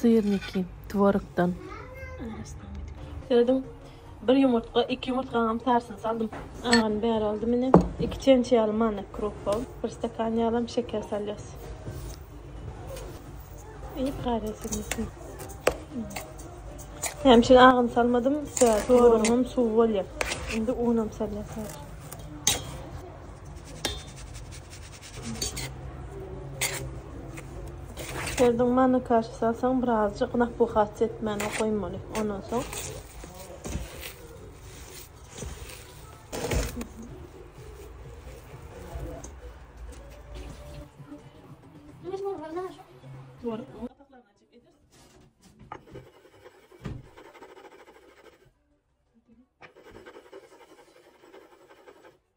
Syrniki, tworogdan. Serediň, bir ýumurtga, iki ýumurtgaňam sarysyny saldym. Agany bäri aldym ine. Iki çemçe ýaly manna krupa, bir stakan ýalam şeker salýas. Iýip garýas indi üstüni. Näme üçin agyny salmadym? Sebäbi tworogym suw bolýar. Indi unam salýas häzir. Özüň manukasi salsaň birazjyk napuhasy etmäne goýmaly. Ondan soň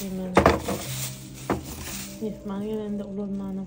Hemen mehman gelende ulanmanam.